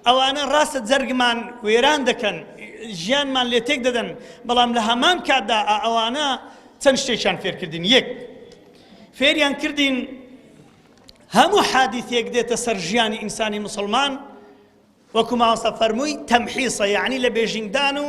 ئەوانە ڕاستە جەرگمان وێران دەکەن، ژیانمان لێ تێک دەدەن، بەڵام لە هەمان کاتدا ئا ئەوانە چەند شتێکیان فێر کردین، یەک فێریان کردین هەموو حادیثێک دێتە سەر ژیانی ئینسانی مسلمان وەکو ماوەسە فەرمووی تەمحیسە یعنی لە بێژینگدان و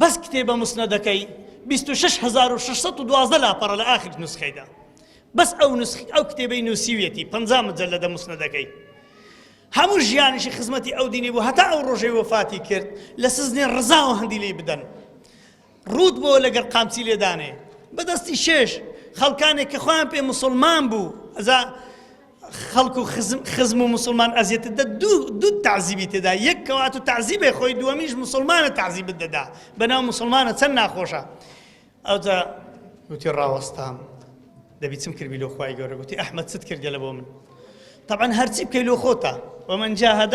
بەس کتێبە موسنەدەکەی بیست و شەش هەزار و شەش سەد و دوازدە لاپەڕە لە ئاخر نوسخەیدا بەس ئەو نسخ ئەو کتێبەی نووسیویەتی پەنجا مجەلەدە موسنەدەکەی هەموو ژیانیشی خزمەتی ئەو دینی بوو هەتا ئەو ڕۆژەی وەفاتی کرد لە سزنی ڕزاوە هەندی لی بدەن ڕووت بۆ لەگەر قامچی لێدانێ بەدەستی شێش خەڵکانێک کە خۆیان پێ مسلمان بوو ئەزا خەڵک و خزم خزم و موسڵمان ئەزیەتت دە دوو دوو تەعزیبی تێدا یەک کەوات و تەعزیبێ خۆی دووەمیش موسڵمانە تەعزیبت دەدا بەناو موسڵمانە چەند ناخۆشە ئەوجا وتی ڕاوەستام دەبی چم کردی لۆ خوای گەورە گوتی ئەحمد چت کردگەلە بۆ من طبعا هەرچی بکەی لۆ خۆتە ومن جاهد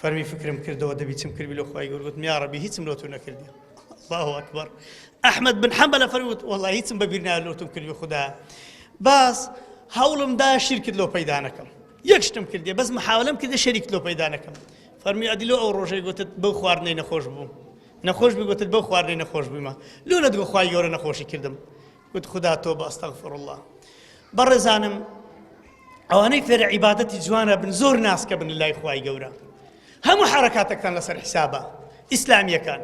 فەرمی فکرم کردەوە دەبی چم کردبی لۆ خوای گەور گوتم یا ربی هیچم لۆ تو نەکردبی الله اکبر احمد بن حنبل فەرمی وت والله هیچم بەبیر نایە لۆ تم کردبی خودا باس هەوڵم دا شیرکت لۆ پەیدا نەکەم یەک شتم کردێ بەس محاولم کردێ شەریکت لۆ پەیدا نەکەم فەرمی ئەدی لۆ ئەو ڕۆژەی گوتت بەو خواردنەی نەخۆش بوو نەخۆش بگوتت بەو خواردنەی نەخۆش بوومە لۆ نەدگۆ خوای گەورە نەخۆشی کردم وت خودا تۆبە استغفر اللە بەڕێزانم ئەوانەی فێرە عیبادەتی جوانە بن زۆر ناسکە بن لای خوای گەورە هەموو حرکاتەکتان لەسەر حیسابە ئیسلامیەکان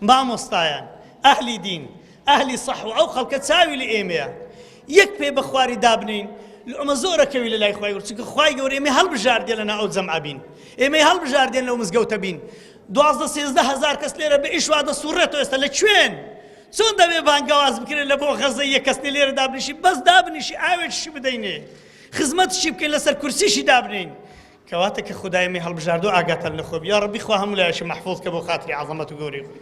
مامۆستایان ئەهلی دین ئەهلی صح و ئەو خەڵکە چاوی لە ئێمەیە یەک پێ بە خواری دابنین ئەمە زۆرەکەوی لە لای خخوای ورچکە خخوای گەور ئێمە هەڵبژاردێ لەنا ئەو جەمعبین ئێمەی هەڵبژاردێن لەو مزگەوتە بین دوازدە سێزدە هەزار کەس لێرە بە ئیش وا دەسوڕێتەوە ئێستا لە کوێن؟ چۆن دەبێ بانگەواز بکرێت لە بۆ غەزە یەک کەس نێ لێرە دابنیشی بەس دابنیشی ئاوێکشی بدەینێ خزمەتشی بکەین لەسەر کورسیشی دابنین کەواتە کە خدای مێ هەڵبژاردو ئاگاتان لە خۆبی یا ڕەبی خوا هەموو لایەکی مەحفوظ کە بۆ خاتری عەزەمەت و گەورەی خۆی